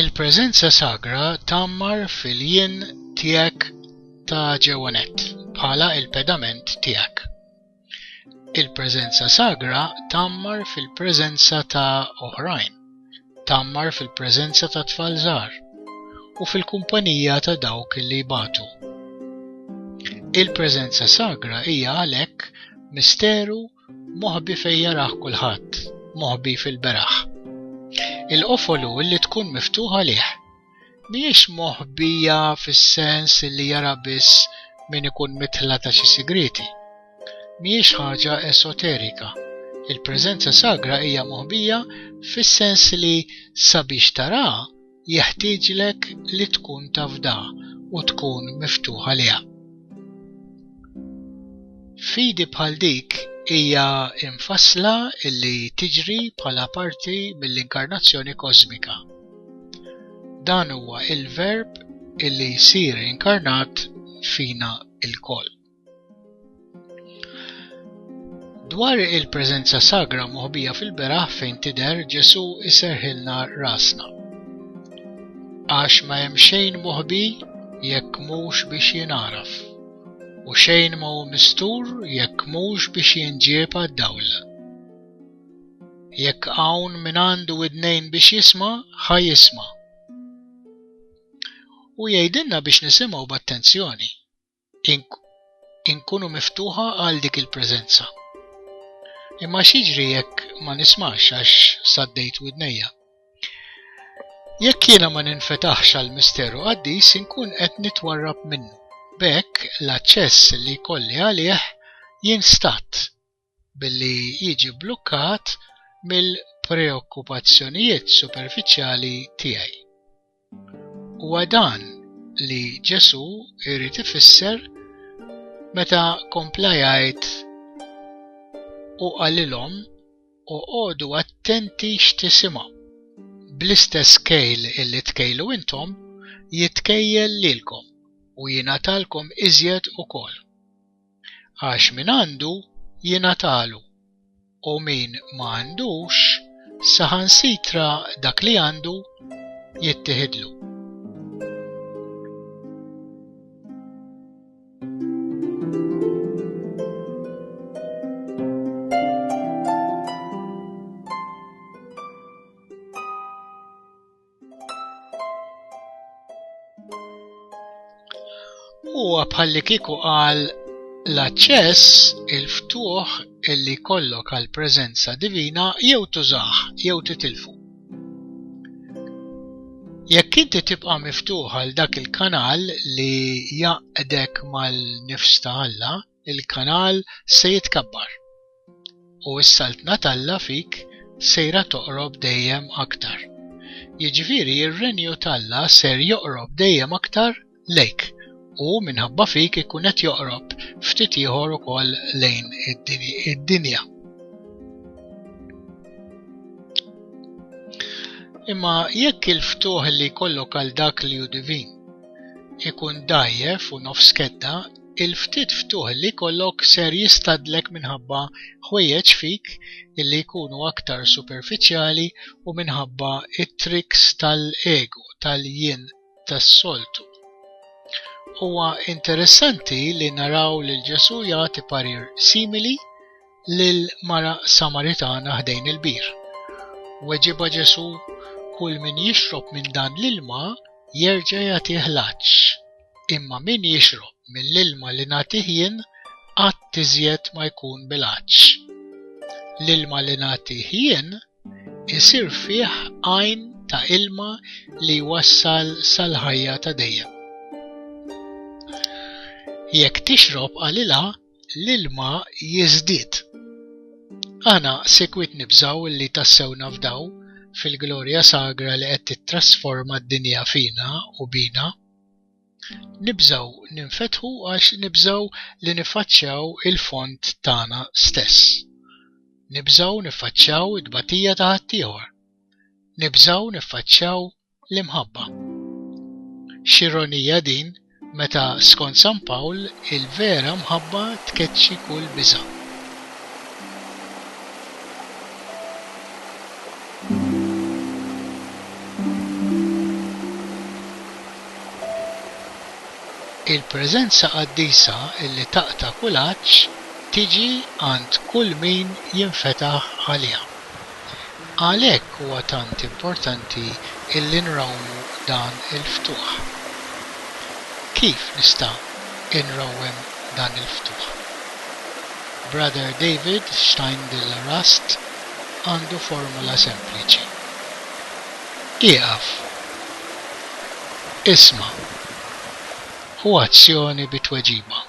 Il-preżenza sagra tgħammar fil-jien tiegħek ta' ġewwanett bħala l-pedament tiegħek. Il-preżenza sagra tgħammar fil-preżenza ta' oħrajn, tgħammar fil-preżenza ta' tfal żgħar u fil-kumpanija ta' dawk li jbatu. Il-preżenza sagra hija għalhekk misteru Moħbi fejn jarah kulħadd, moħbi fil-beraħ. Il-qofolu li tkun miftuħa lih. Mhijiex moħbija fis-sens li jara biss min ikun mitħla ta' xi sigriti. Mhijiex ħaġa esoterika. Il-preżenza sagra hija moħbija fis-sens li sabiex taraha jeħtieġlek li tkun tafda u tkun miftuħ għaliha. Fidi bħal dik hija infassla illi tiġri bħala parti mill-inkarnazzjoni kosmika. Dan huwa il-verb illi jsir inkarnat fina il-koll. Dwar il-preżenza sagra moħbija fil-beraħ fejn tidher Ġesù iserħilna rasna. Għax ma hemm xejn moħbi jekk mhux biex jingħaraf, u xejn ma hu mistur jekk mhux biex jinġieb għad-dawl. Jekk hawn min għandu id-nejn biex jisma, ħa jisma. U jgħidilna biex nisimgħu b'attenzjoni. inkunu miftuħa għal dik il-preżenza. Imma xiġri jekk ma nismax għax saddejt widnejja. Jekk jiena ma ninfetaħx għal misteru qaddis inkun qed nitwarrab minnu. Bekk l-aċċess li kolli għalih jinstat. billi jiġi bblukkat mill-preokkupazzjonijiet superfiċjali tiegħi. Huwa dan li Ġesù jrid ifisser meta kompla jgħid u qalilhom u għodu attenti x'tisimgħu. Bl-istess kejl illi tkejlu intom, jitkejjel lilkom u jingħatalkom iżjed ukoll. għax min għandu jingħatalu, u min ma għandux, saħansitra dak li għandu jittieħidlu. Huwa bħalli kieku qal l-aċċess, il-ftuħ illi kollok għal preżenza divina jew tużaħ jew titilfu. Jekk inti tibqa' miftuħ għal dak il-kanal li jaqdek mal-nifs ta' Alla, il-kanal se jitkabbar u s-Saltna t'Alla fik sejra toqrob dejjem aktar. Jiġifieri r-Renju t'Alla ser joqrob dejjem aktar lejk u minħabba fik ikun qed joqrob ftit ieħor ukoll lejn id-dinja. Imma jekk il-ftuħ li jkollok għal dak li hu divin ikun dajjef u nofs kedda, Il-ftit ftuħ li jkollok ser jistagħdlek minħabba ħwejjeġ fik li jkunu aktar superfiċjali u minħabba t-triks tal-ego, tal-jien tas-soltu. Huwa interessanti li naraw lil Ġesù jagħti parir simili lil mara Samaritana ħdejn il-bir. Weġiba Ġesù kull min jixrob minn dan l-ilma jerġa' jagħtih laċċ Imma min jixrob mill-ilma li nagħtih jien qatt iżjed ma jkun bil-għatx. L-ilma li nagħtih jien isir fih għajn ta' ilma li jwassal sal-ħajja ta' dejjem. Jekk tixrob qalilha l-ilma jiżdied. Aħna sekwit nibżaw li tassew nafdaw fil-glorja sagra li qed tittrasforma d-dinja fina u bina. Nibżgħu ninfetħu għax nibżgħu li niffaċċjaw il-fond tagħna stess. Nibżgħu niffaċċjaw it-tbatija ta' ħaddieħor. Nibżgħu niffaċċjaw l-imħabba. X'ironija din meta skont San Pawl il-vera mħabba tkeċċi kull biża'. Il-preżenza qaddisa li taqta' kull għatx tiġi għand kull min jinfetaħ għaliha. Għalhekk huwa tant importanti li nrawmu dan il-ftuħ. Kif nista' inrawwem dan il-ftuħ? Brother David Steindl-Rast għandu formula sempliċi. Ieqaf, isma' u azzjoni bi tweġiba.